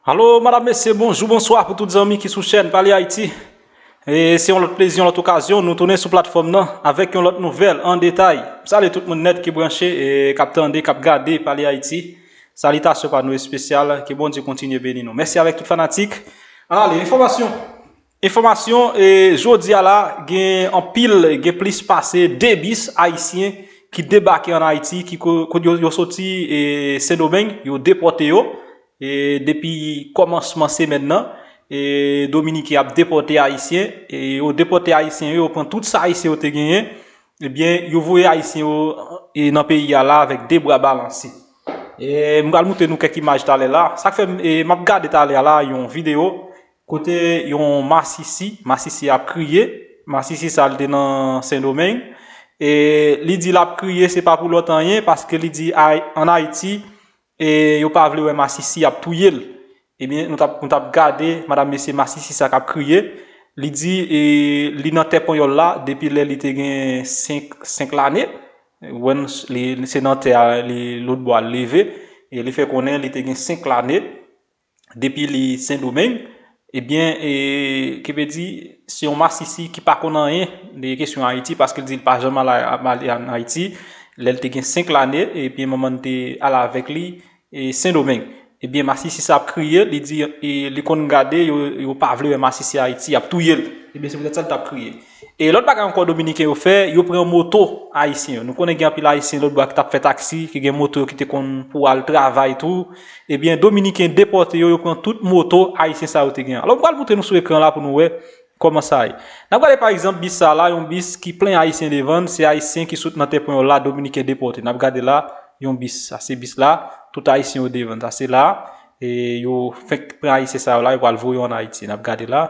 Alo madam mesye bonjou bonswa pou tout zanmi ki sou chèn pale ayiti e se yon lòt plezi yon lòt okazyon nou tounen sou platfòm nan avèk yon lòt nouvèl an detay m salye tout moun nèt ki branche e kap tande kap gade pale ayiti salitasyon pa nou espesyal ke bondye kontinye beni nou mèsi avèk tout fanatik ale enfòmasyon Enfòmasyon, Jodi a la, gen anpil, gen plis pase 2 bis ayisyen ki debake an Ayiti, ki yo soti Sendomeng, yo depòte yo depi kòmansman semèn nan, Dominiken ap depòte ayisyen, yo depòte ayisyen yo, yo pran tout sa ayisyen yo te genyen, ebyen yo voye ayisyen yo nan peyi a la avèk 2 bra balanse. M pral moutre nou kèk imaj talè la, sa k fè m ap gade talè a la yon videyo. Kote yon masisi, masisi ap kriye, masisi sa li te nan sendomeng, e li di lap kriye se pa pou lòt anyen paske li di an ayiti e yo pa vle wè masisi yap touyel, ebyen nou tap nou tap gade madam mesye masisi sa kap kriye, li di e li nan tè panyòl la depi lè li te gen 5 5 lane, wè nou se nan tè a li lotbò al leve, e li fè konnen li te gen 5 lane, depi li sendomeng ebyen kivedi se yon masisi ki pa konn anyen de kesyon ayiti paske li di li pa janm al ayiti lèl te gen 5 lane ebyen manmann te al avèk li sendomeng ebyen masisi sa ap kriye li di li konn gade yo pa vle wè masisi ayiti yap touyel ebyen se poutèt sa li tap kriye. E lòt bagay ankò dominiken yo fè, yo pran moto ayisyen yo. Nou konnen gen anpil ayisyen lòt bò a ki tap fè taksi, ki gen moto yo ki te konn pou al travay tou. Ebyen dominiken depòte yo, yo pran tout moto ayisyen sa yo te gen. Alò m pral moutre nou sou ekran la pou nou wè kòman sa ye. N ap gade pa egzanp bis sa la, yon bis ki plen ayisyen devan l, se ayisyen ki sot nan tèpwen yo la dominiken depòte. N ap gade la yon bis, sa se bis la, tout ayisyen yo devan l. Sa se la, e yo fenk pran ayisyen sa yo la, yo pral voye yo an Ayiti. N ap gade la,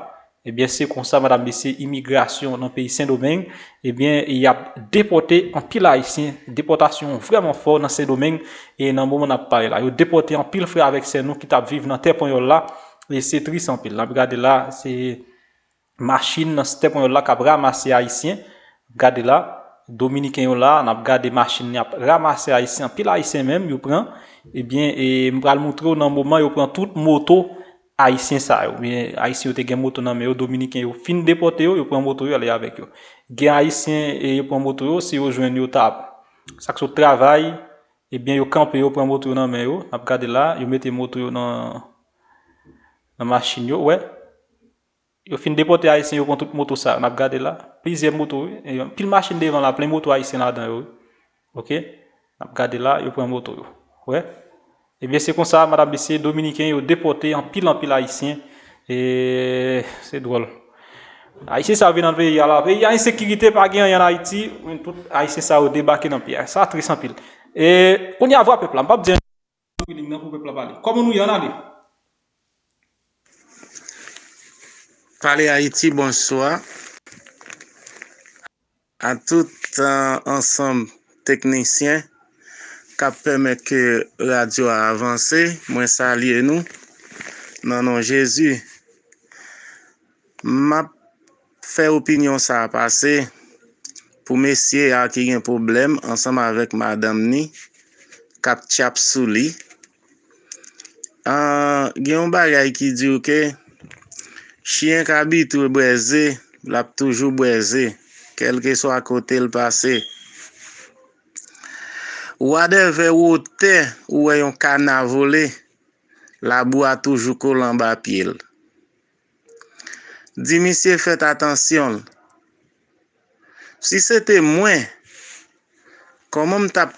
Ebyen se konsa madam mesye imigrasyon nan peyi sendomeng ebyen yap depòte anpil ayisyen depòtasyon vrèman fò nan sendomeng e nan moman nap pale la yo depòte anpil frè avèk sè nou ki tap viv nan tè panyòl la e se tris anpil nap gade la se machin nan tè panyòl la kap ramase ayisyen gade la dominiken yo la nap gade machin yap ramase ayisyen anpil ayisyen menm yo pran ebyen e mpral moutrew nan moman yo pran tout moto Ayisyen sa yo, oubyen Ayisyen yo te gen moto nan men yo, Dominiken yo fin depòte yo, yo pran moto yo ale avèk yo. Gen Ayisyen e yo pran moto yo, si yo jwenn yo ta. Sa k sot travay, ebyen yo kanpe yo pran moto yo nan men yo, n ap gade la, yo mete moto yo nan nan machin yo, wè. Yo fin depòte ayisyen yo pran tout moto sa yo nap gade la plizyè moto wi e yon pil machin devan la plen moto ayisyen ladan yo wi ok nap gade la yo pran moto yo wè ebyen se konsa madam mesye dominiken yo depòte anpil anpil ayisyen e se dwòl ayisyen sa yo vin nan peyi a la peyi a ensekirite pa gen anyen an ayiti men tout ayisyen sa yo debake nan peyi a sa tris anpil e kounye a vwa pèp la m pap di anyen. Feeling nan pou pèp la pale. Kòman nou ye an ale. Pale Haiti bonswa a tout ansanm teknisyen kap pèmèt ke radyo a avanse mwen salye nou nan non Jezi map Fè opinyon sa a pase pou mesye a ki gen pwoblèm ansanm avèk madanm ni k ap tyap sou li. An, gen yon bagay ki di w ke chyen k abitwe bwè ze, l ap toujou bwè ze, kèlkeswa kote l pase. Wadèvè wotè ou wè yon kana vole, labou a toujou kole anba pye l. Di misye fèt atansyon l. Si se te mwen, kòman m tap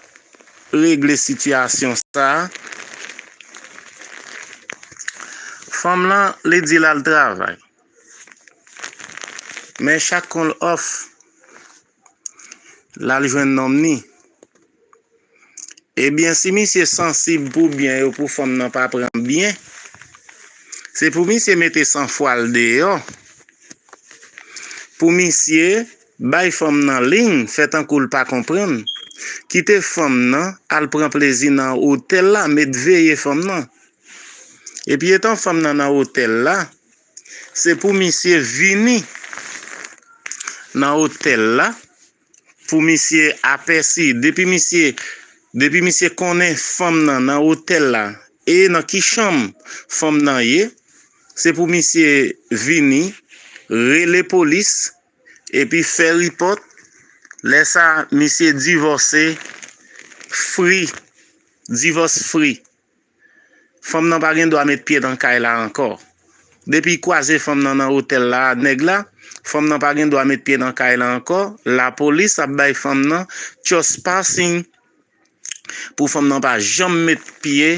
regle sitiyasyon sa? Fanm lan li di l al travay. Men chak kon l òf Lal jwenn nonm ni. Ebyen si misye sansib pou byen yo pou fanm nan pa pran byen se pou misye mete san fwa l deyò pou misye bay fanm nan liy fè tankou l pa konprann kite fanm nan al pran plezi nan otèl la met veye fanm nan epi etan fanm nan nan otèl la. Se pou misye vini nan otèl la pou misye apèsi depi misye depi misye konnen fanm nan nan otèl la e nan ki chanm fanm nan ye se pou misye vini rele polis epi fè ripòt lè sa misye divòse free divòs free. Fanm nan pa gen dwa met pye nan kay la ankò. Depi kwaze fanm nan nan otèl la a nèg la, fanm nan pa gen dwa met pye nan kay la ankò, lapolis ap bay fanm nan tchospassing pou fanm nan pa janm met pye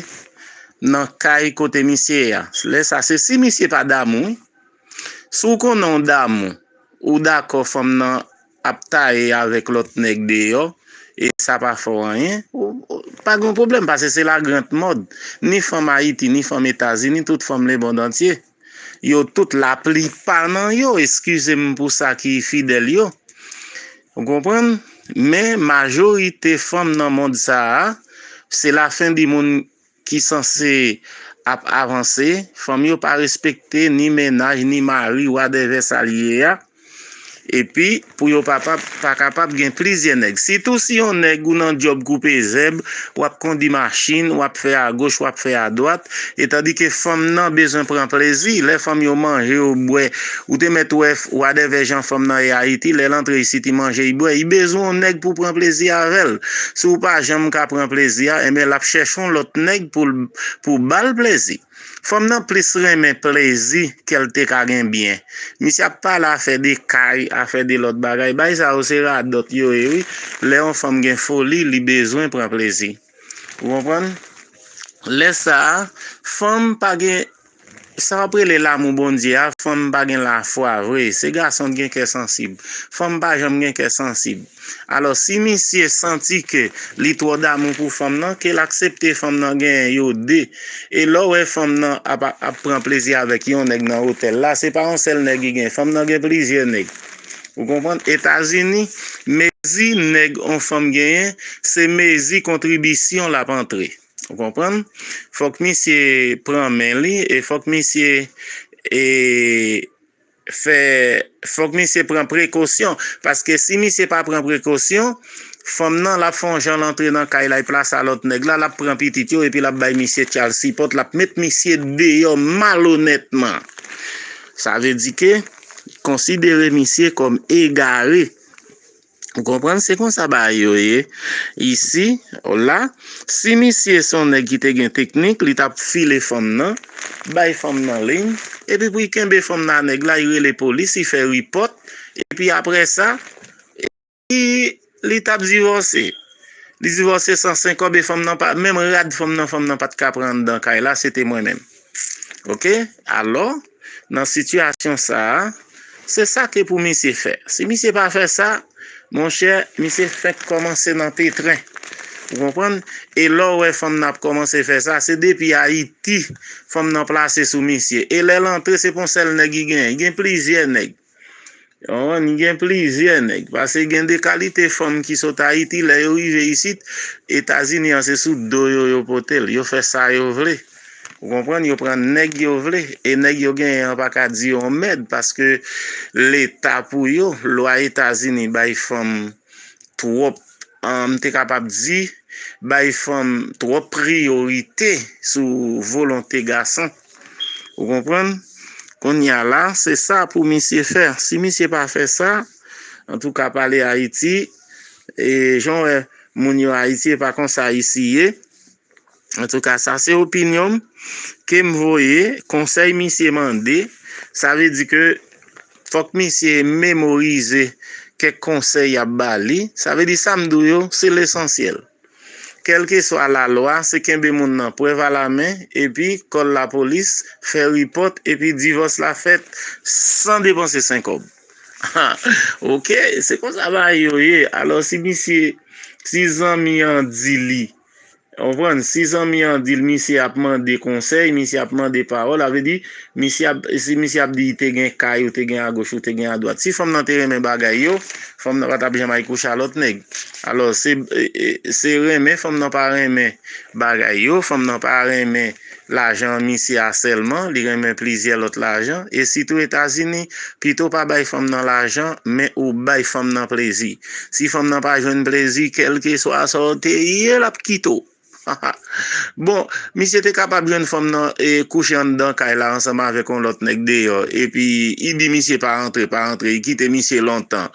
nan kay kote misye ye a. Lè sa se si misye pa damou wi. Si w konnen w damou, ou dakò fanm nan. ap taye avèk lòt nèg deyò e sa pa fè w anyen, pa gen yon pwoblèm pase se la grande mode. Ni fanm Ayiti, ni fanm Etazini, tout fanm lebondantye, yo tout, laplipa nan yo, eskize m pou sa ki fidèl yo, ou konprann, men majorite fanm nan mond sa a, se lafendimonn. ki sanse ap avanse, fanm yo pa respekte ni mennaj ni mari wadèvè sa li ye a, epi pou yo pa kapab gen plizyè nèg. Sitou si yon nèg ou nan djòb koupe zèb, w ap kondi machin, w ap fè agoch, w ap fè adwat, etandike fanm nan bezwen pran plezi, lè fanm yo manje, yo bwè, Ou te mèt wè wadèvè jan fanm nan ye Ayiti, lè l antre isit i manje, i bwè, i bezwen yon nèg pou pran plezi avè l. Si w pa janm ka pran plezi a, enben l ap chèche yon lòt nèg pou ba l plezi. Fanm nan plis renmen plezi ke l te ka gen byen. Misye ap pale afè de kay, afè de lòt bagay. Bagay sa yo se radòt yo ye wi. Lè yon fanm gen foli, li bezwen pran plezi. Ou konprann? Lè sa a, fanm pa gen Sa wap rele lamou Bondye a fanm pa gen lafwa vre se gason t gen kè sansib fanm pa janm gen kè sansib alò si misye santi ke li twò damou pou fanm nan kel aksepte fanm nan genyen yo 2 e lè w wè fanm nan ap ap pran plezi avèk yon nèg nan otèl la se pa yon sèl nèg li gen fanm nan gen plizyè nèg ou konprann etazini mezi nèg yon fanm genyen se mezi kontribisyon lap antre. Ou konprann? Fòk misye pran men li e fòk misye e fè fòk misye pran prekosyon paske si misye pa pran prekosyon fanm nan lap fon jan lantre nan kay la plas a lòt nèg la lap pran pitit yo epi lap bay misye tchal sipòt lap met misye deyò malonètman sa vle di ke konsidere misye kòm egare. Ou konprann? Se konsa bagay yo ye isi, la. Si misye se yon nèg ki te gen teknik, li t ap file fanm nan, bay fanm nan liy, epi pou li kenbe fanm nan a nèg la, li rele polis, li fè ripòt, epi apre sa, epi li t ap divòse. Li divòse san senkòb e fanm nan pa, menm rad fanm nan, fanm nan pa t ka pran anndan kay la, se te mwen menm. Ok? Alò? Nan sitiyasyon sa a, se sa ki pou misye fè. Si misye pa fè sa, monchè, misye fenk kòmanse nan petren. Ou konprann? E lè w wè fanm nan ap kòmanse fè sa, se depi Ayiti fanm nan plase sou misye. E lè l antre, se pa yon sèl nèg li genyen. Li gen plizyè nèg. Yon an gen plizyè nèg. Pase gen de kalite fanm ki sot Ayiti, lè yo rive isit, Etazini an se sou do yo yo pote l. Yo fè sa yo vle. Ou konprann? Yo pran nèg yo vle. E nèg yo genyen an pa ka di yo mèd paske leta pou yo, lwa Etazini bay fanm twòp, m te kapab di, bay fanm twòp priyorite sou volonte gason. Ou konprann? Kounye a la, se sa pou misye fè. Si misye pa fè sa, an tou ka pale Ayiti, e jan w wè moun yo Ayiti e pa konsa Ayiti ye, an tou ka sa se opinyon m, ke m voye, konsèy misye mande, sa vle di ke fòk misye memorize kèk konsèy y ap ba li, sa vle di sa m di w yo se lesansyèl. Kèlkeswa lalwa, se kenbe moun nan prèv alamen epi kòl lapolis, fè ripòt epi divòs la fèt san depanse senkòb. Ha! Oke, se konsa bagay yo ye. Alò si misye, si zanmi an di li, ou konprann, si zanmi an di l misye ap mande konsèy, misye ap mande pawòl, sa vle di, misye ap, si misye ap di te gen kay ou te gen agoch ou te gen adwat. Si fanm nan te renmen bagay yo, fanm nan pa t ap janm al kouche a lòt nèg. Alò se se renmen fanm nan pa renmen bagay yo, fanm nan pa renmen lajan misye a sèlman, li renmen plizyè lòt lajan, e sitou Etazini, pito pa bay fanm nan lajan, men ou bay fanm nan plezi. Si fanm nan pa jwenn plezi, kèlkeswa sa w te ye, l ap kite w. Bon, misye te kapab jwenn fanm nan e kouche anndan kay la ansanm avèk yon lòt nèg deyò. Epi, I di misye pa rantre, pa rantre. I kite misye lontan.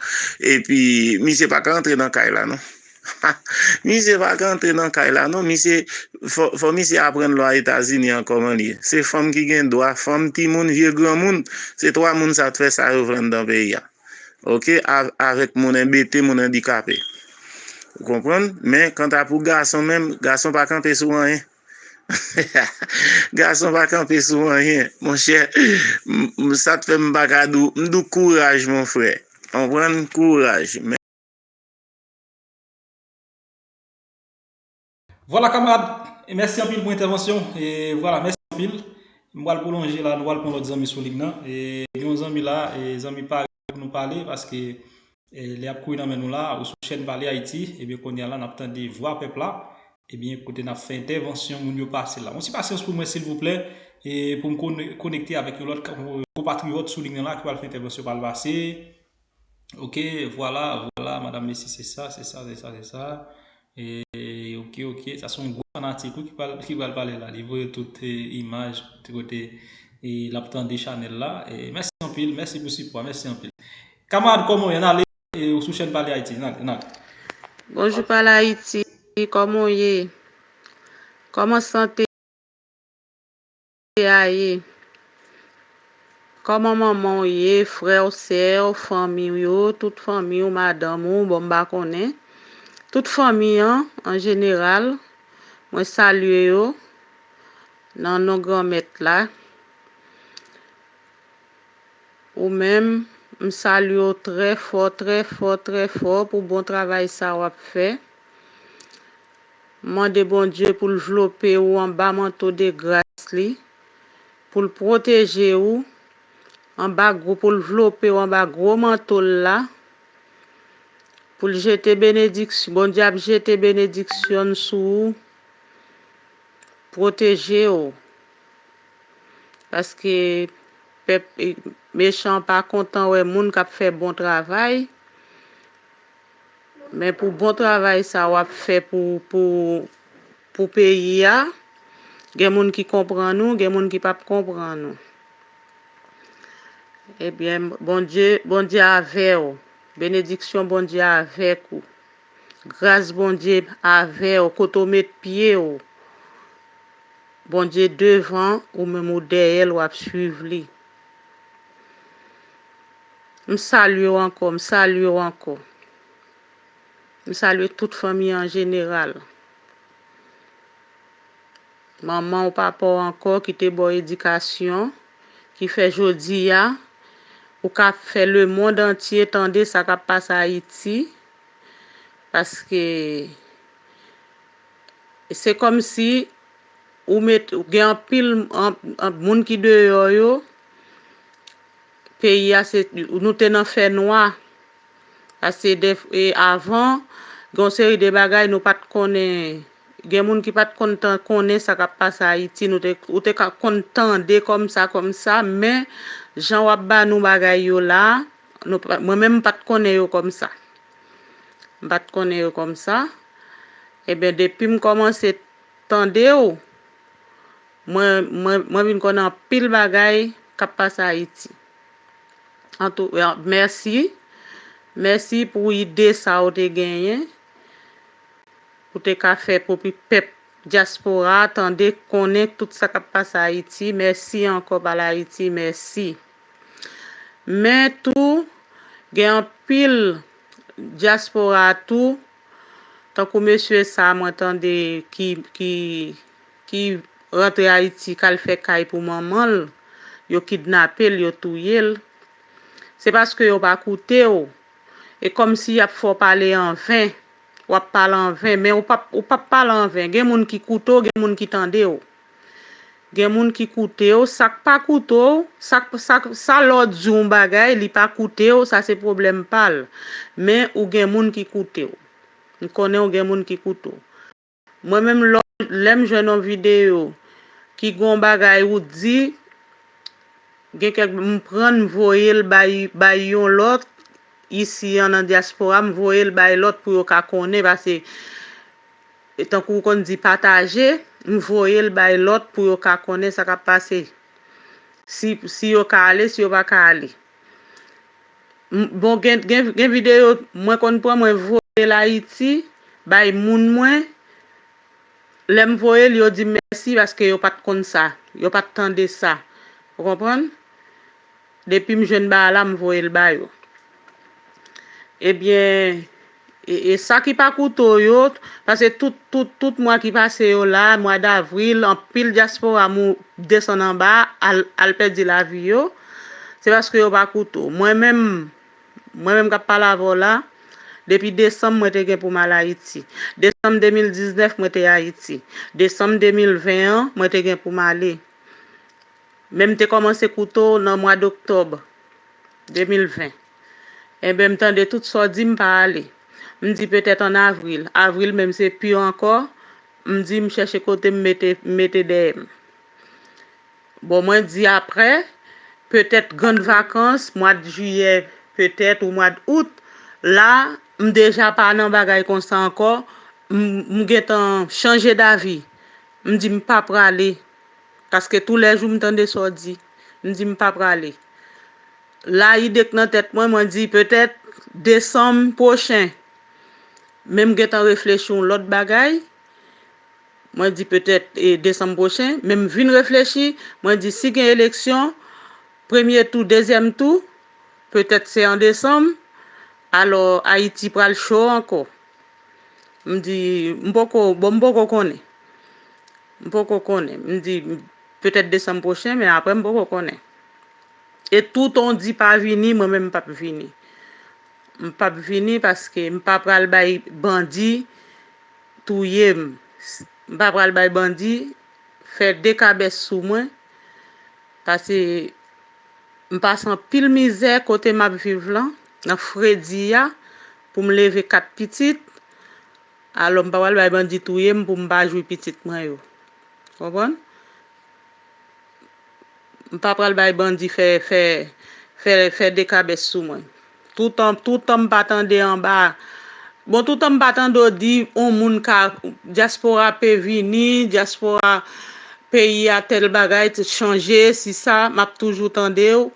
Epi, misye pa ka rantre nan kay la non. Misye pa ka rantre nan kay la non. Misye, fò misye aprann lwa Etazini an kòman li ye. Se fanm ki gen dwa, fanm, timoun, vye granmoun. Se twa moun sa te fè sa yo vle anndan peyi a. ok avèk moun enbete, moun andikape. Ou konprann? Men, kanta pou gason menm, gason pa kanpe sou anyen. gason pa kanpe sou anyen. Mon chè, sa te fè m baka dou, m dou kouraj mon frè. Konprann? Kouraj. Vwala kamarad, e mèsi anpil pou entèvansyon w, e vwala mèsi anpil. M pral pwolonje la, nou pral pran lòt zanmi sou lig nan. E gen yon zanmi la, e zanmi pare pou nou pale paske lè ap kouri nan men nou la, ou sou chèn pale Ayiti, ebyen kounye a la nap tande vwa pèp la, ebyen kote nap fè entèvansyon moun yo pase la. Yon ti pasyans pou mwen silvouplè, e pou m konekte avèk yon lòt konpatriyòt sou lig nan la ki pral fè entèvansyon pa l pase. Ok vwala vwala madam mesi se sa se sa se sa se sa eee ok ok sa son gwo fanatik wi ki pral pale la li voye tout imaj tout kote lap tande chanel la mèsi anpil mèsi pou sipò a mèsi anpil kamarad koman w ye nan ale ou sou chèn pale ayiti nan nan ale. Bonjou pale ayiti koman w ye koman sante. Ayi Koman manman w ye frè w sè w fanmi w yo tout fanmi w madanm ou bon m pa konnen tout fanmi an an jeneral mwen salye yo nan non granmèt la ou menm m salye w trè fò trè fò trè fò pou bon travay sa wap fè. Mande Bondye pou l vlope ou anba manto de gras li, pou l pwoteje ou, anba gwo pou l vlope ou anba gwo manto l la, pou l jete benediksyon, Bondye ap jete benediksyon n sou ou, pwoteje ou, paske pèp mechan pa kontan wè moun k ap fè bon travay. Men pou bon travay sa wap fè pou pou pou peyi a gen moun ki konprann ou gen moun ki pap konprann ou ebyen bondye bondye avèw benediksyon bondye avèk ou gras bondye avèw kote ou met pye ou bondye devan ou menm ou dèyèl wap swiv li. M salye w ankò, m salye w ankò. M salye tout fanmi an jeneral. Manman w, papa w ankò ki te ba w edikasyon, ki fè jodi a, ou ka fè lemond antye tande sa k ap pase Ayiti. Paske, se kòmsi ou met, gen anpil moun ki deyò yo. Peyi a se nou te nan fè nwa a se de e avan gen yon seri de bagay nou pat konnen gen moun ki pat konn tan konnen sa kap pase ayiti nou te ou te ka konn tande kòm sa kòm sa men jan wap ba nou bagay yo la nou pa mwen menm m pat konnen yo kòm sa m pat konnen yo kòm sa eben depim kòmanse tande w Mwen mwen mwen vin konn anpil bagay kap pase ayiti antou mèsi mèsi pou ide sa ou te genyen pou te ka fè pou pèp dyaspora tande konnen tout sa kap pase ayiti mèsi ankò bal ayiti mèsi men tou gen anpil dyaspora tou tankou mesye sa mwen tande ki ki ki rantre Ayiti kal fè kay pou manman l, yo kidnape l, yo touye l. Se paske yo pa koute w. E kòmsi y ap fè w pale an ven. W ap pale an ven. Men ou pap ou pap pale an ven. Gen moun ki koute w, gen moun ki tande w. Gen moun ki koute w. Sa k pa koute w, sa k sa k sa lè w di yon bagay li pa koute w, sa se pwoblèm pa l. Men ou gen moun ki koute w. M konnen ou gen moun ki koute w. Mwen menm lèm jwenn yon video ki gen yon bagay ou di gen kèk m pran m voyel bay bay yon lòt isi an nan diaspora m voyel bay lòt pou yo ka konnen pase tankou ou konn di pataje m voyel bay lòt pou yo ka konnen sa kap pase si si yo ka ale si yo paka ale. Bon gen video mwen konn pran mwen voyel ayiti bay moun mwen lèm voyel yo dim mèsi paske yo pat konn sa yo pat tande sa ou konprann depim jwenn bagay la m voyel ba yo ebyen E sa ki pa kouto yo, pase tout tout tout mwa ki pase yo la, mwa davril, anpil dyaspora mou desann anba, al al pèdi lavi yo, se paske yo pa kouto. Mwen menm, mwen menm k ap pale avè w la, depi desanm mwen te gen pou m al Ayiti. Desanm 2019 mwen te Ayiti. Desanm 2020 an, mwen te gen pou m ale. Men m te kòmanse kouto nan mwa doktòb 2020. Enben m tande tout sa w di m pa ale. M di petèt an avril, avril menm se pi ankò, m di m chèche kote m mete m mete dèyè m. Bon mwen di aprè, petèt grand vakans, mwad jiyè petèt ou mwad out, la m deja pa nan bagay konsa ankò, m m gentan chanje davi, m di m pa prale paske tou lè jou m tande sa w di, m di m pa prale. La ide k nan tèt mwen, mwen di petèt desanm pwochen. Men m gentan reflechi yon lòt bagay, mwen di petèt desanm pwochen, men m vin reflechi, mwen di si gen eleksyon, premye tou, dezyèm tou, petèt se an desanm, alò Ayiti pral cho ankò. M di m poko, bon m poko konnen. M poko konnen. M di petèt desanm pwochen men aprè m poko konnen. E tou ton di pa vini mwen menm pap vini. M pap vini paske m pa pral bay bandi touye m. M pa pral bay bandi fè dekabès sou mwen pase m pase anpil mizè kote m ap viv lan nan fredi a pou m leve 4 pitit alò m pa pral bay bandi touye m pou m pa jwi pitit mwen yo. Konprann? M pa pral bay bandi fè fè fè fè dekabès sou mwen. Toutan toutan m pa tande anba Bon toutan m pa tande w di on moun ka dyaspora pe vini, dyaspora peyi a tèl bagay te chanje si sa m ap toujou tande w.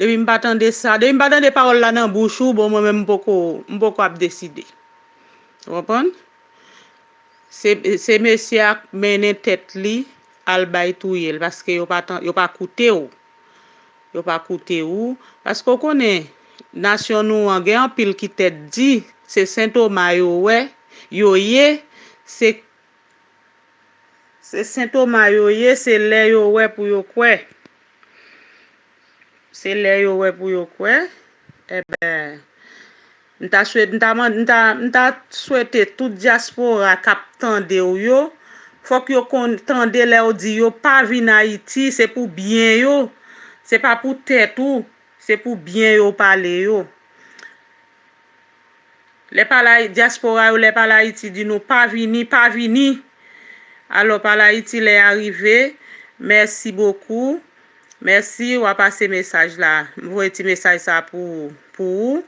Depi m pa tande sa depi m pa tande pawòl la nan bouch ou bon mwen menm m poko m poko ap deside. Ou konprann? Se mesye a k mennen tèt li al bay touye l paske yo pa yo pa koute w yo pa koute ou paske w konnen nasyon nou an gen anpil ki tèt di se sentoma yo wè yo ye se se sentoma yo ye se lè yo wè pou yo kwè se lè yo wè pou yo kwè enben. M ta swete m ta mande m ta m ta swete tout diaspora kap tande w yo fok yo konn tande lè w di yo pa vin ayiti se pou byen yo se pa pou tèt ou se pou byen yo w pale yo lè pale a diaspora yo lè pale ayiti di nou pa vini pa vini alò pale ayiti lè a rive merci beaucoup. Mèsi wa pase mesaj la. M voye ti mesaj sa pou pou ou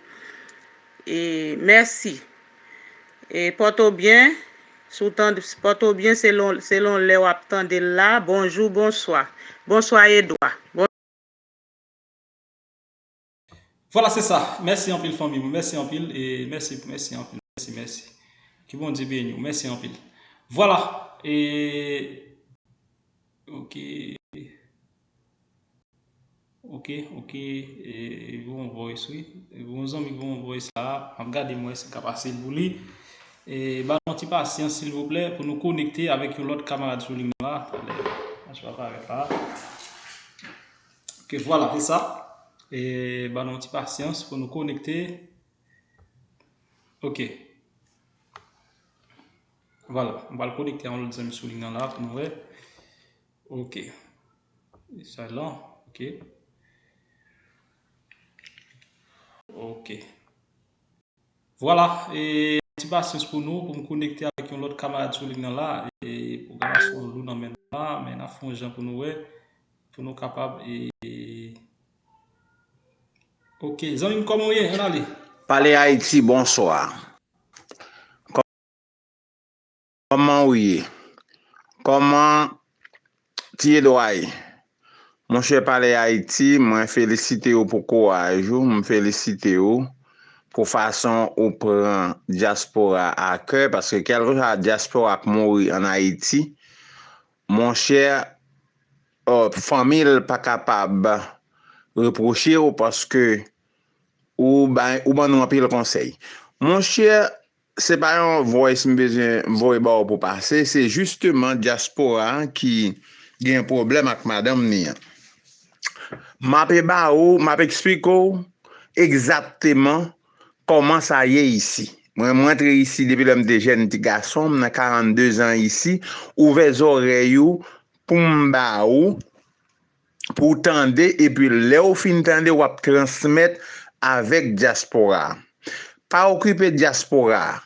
e mèsi e pòto byen si w tand pòto byen selon selon lè wap tande l la bonjou bonswa bonswa edwa bon. Vwala se sa mèsi anpil fanmi mwen mèsi anpil e mèsi mèsi anpil mèsi mèsi ke Bondye beniw mèsi anpil vwala e ok ok ok e voye yon voice wi yon zanmi voye yon voice la map gade mwen si mka pase l pou li e ban nou ti pasyans silvouplè pou nou konekte avèk yon lòt kamarad sou ligne la atande m pa janm avèk la. Ok vwala se sa. E ba nou ti pasyans pou nou konekte. Ok. Vwala. M bal konekte an lòt zèm sou li nan la pou nou wè. Ok. E sa lan. Ok. Ok. Vwala, e yon ti pasyans pou nou pou m konekte avèk yon lòt kamarad sou lig nan la, e pwogramasyon an lou nan men nou la, men n ap fè yon jan pou nou wè, pou nou kapab e. Ok, zanmi m kòman w ye? Ann ale. Pale Ayiti, bonswa. Koman ou ye? Koman ti Edwa ye? Monchè pale Haiti, mwen felisite ou pou kouraj ou, m felisite ou pou fason ou pran diaspora a kè, paske kelkeswa diaspora k mouri an Haiti, monchè fanmil pa kapab reproche ou paske ou ban nou anpil konsey. Monchè Se pa yon voice m bezwen voye ba w pou pase, se jisteman dyaspora ki gen pwoblèm ak madanm ni an. M ape ba ou, m ap eksplike w egzakteman kòman sa ye isi. Mwen m rantre isi depi lè m te jèn ti gason, m nan 42 zan isi, ouvè zòrèy ou pou m ba ou. pou w tande epi lè w fin tande w ap transmèt avèk dyaspora a. Pa okipe dyaspora a.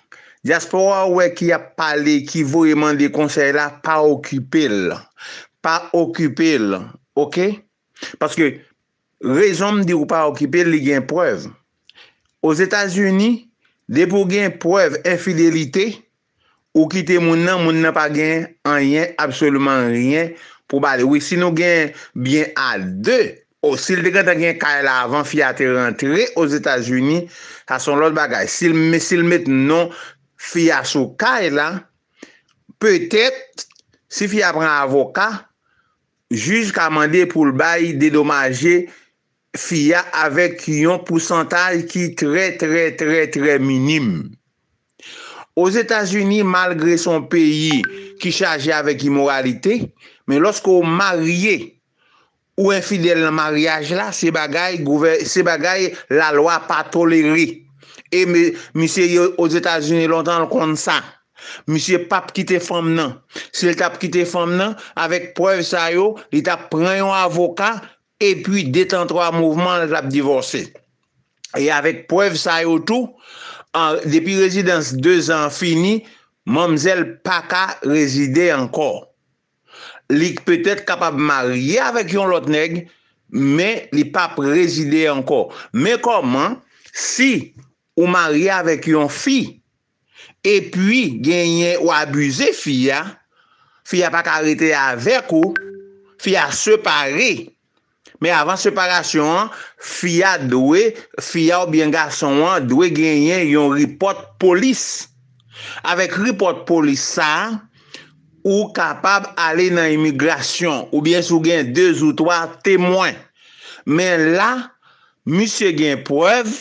Dyaspora ou wè ki ap pale, ki voye mande konsèy la, pa okipe l. Pa okipe l. Ok? Paske rezon m di w pa okipe l, li gen prèv. Ozetazini, depi w gen prèv enfidelite, Ou kite moun nan, moun nan pa gen anyen, absoliman rien pou ba li. Wi, si nou gen byen a de. O, si l te gentan gen kay la avan fi a te rantre Ozetazini, sa se yon lòt bagay. Si l, men si l met non fi a sou kay la, petèt, si fi a pran avoka, jij ka mande pou l bay dedomaje Fi a avèk yon pousantaj ki trè trè trè trè minim. Ozetazini malgre se yon peyi ki chaje avèk imoralite, men lòske w marye, ou enfidèl nan maryaj la, se bagay gouvè, se bagay lalwa pa tolere. E me, misye ye Ozetazini lontan l konn sa. Misye p ap kite fanm nan. Si l t ap kite fanm nan, avèk prèv sa yo, li t ap pran yon avoka Epi de tan twa mouvman l t ap divòse. E avèk prèv sa yo tou, depi rezidans dezan an fini, manmzèl pa ka rezide ankò. Li petèt kapab marye avèk yon lòt nèg, men li pa p rezide ankò. Men kòman si ou marye avèk yon fi Epi genyen ou abize fi a, fi a pa ka rete avèk ou, fi a separe. Men avan separasyon an, fi a dwe, fi a oubyen gason an dwe genyen yon report polis. Avèk report polis sa, ou kapab ale nan imigrasyon oubyen si w gen 2 zou 3 temwen. Men la, misye gen prèv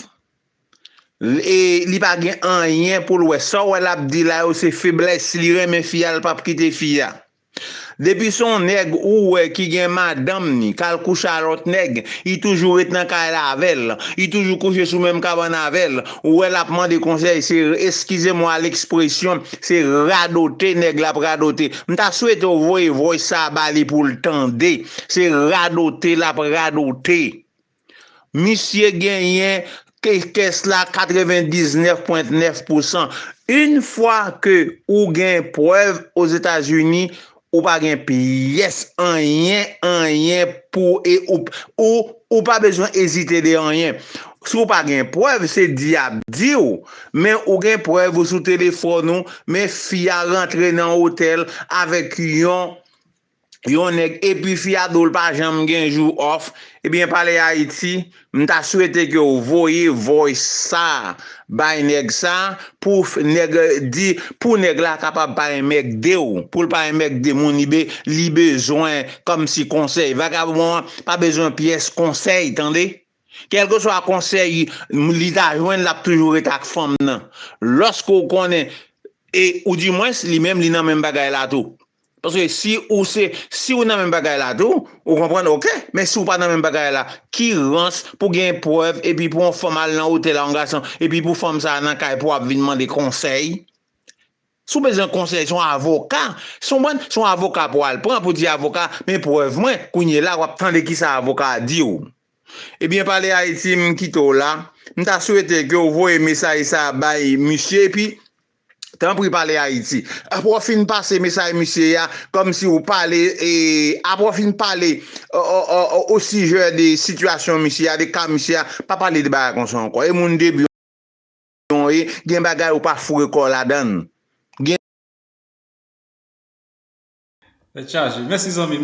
Li pa gen anyen poul wè. Sa w wè lap di la yo se feblès si li renmen fi a li pap kite fi a. Depi se yon nèg ou wè ki gen madanm ni kal kouche a lòt nèg li toujou ret nan kay la avèl li toujou kouche sou menm kabann avèl ou wè lap mande konsèy se eskize mwa lèkspresyon se radote nèg la ap radote m ta swete ou voye voice sa a bali poul tande se radote lap radote. Misye genyen kès la 99 pwent 9 pousan. Yn fwa ke ou gen prèv ozetazini ou pa gen pyès anyen anyen pou e ou ou pa bezwen ezite de anyen. Si ou pa gen prèv se di yap diw men ou gen prèv ou sou telefòn ou men fi a rantre nan otèl avèk yon yon nèg epi fi a dol pa janm gen jou off ebyen pale Haïti m ta swete ke w voye voice sa bay nèg sa pou nèg di pou nèg la kapab pa enmègde w pou l pa enmègde moun li bezwen kòmsi konsèy vagabon an pa bezwen pyès konsèy tande. Kèlkeswa konsèy li ta jwenn lap toujou ret ak fanm nan loske ou konnen e ou di mwens li menm li nan menm bagay la tou paske si ou se si ou nan menm bagay la tou ou konprann ok men si ou pa nan menm bagay la ki rans pou gen prèv epi pou yon fanm al nan otèl a yon gason epi pou fanm sa nan kay pou ap vin mande konsèy Si w bezwen konsèy son avoka, se konprann, se yon avoka pou al pran pou di avoka men prèv mwen, kounye la wap tande kisa avoka a di w. Ebyen pale Haiti m kite w la, m ta swete ke w voye mesaj sa bay misye epi tanpri pale Haiti. Apre w fin pase mesaj misye a kòmsi w pale e apre w fin pale o sijè de sitiyasyon misye a, de ka misye a, pa pale de bagay konsa ankò e moun debi w. non e gen bagay ou pa foure kòw ladann. Gen. Tèt chaje. Mèsi zanmim.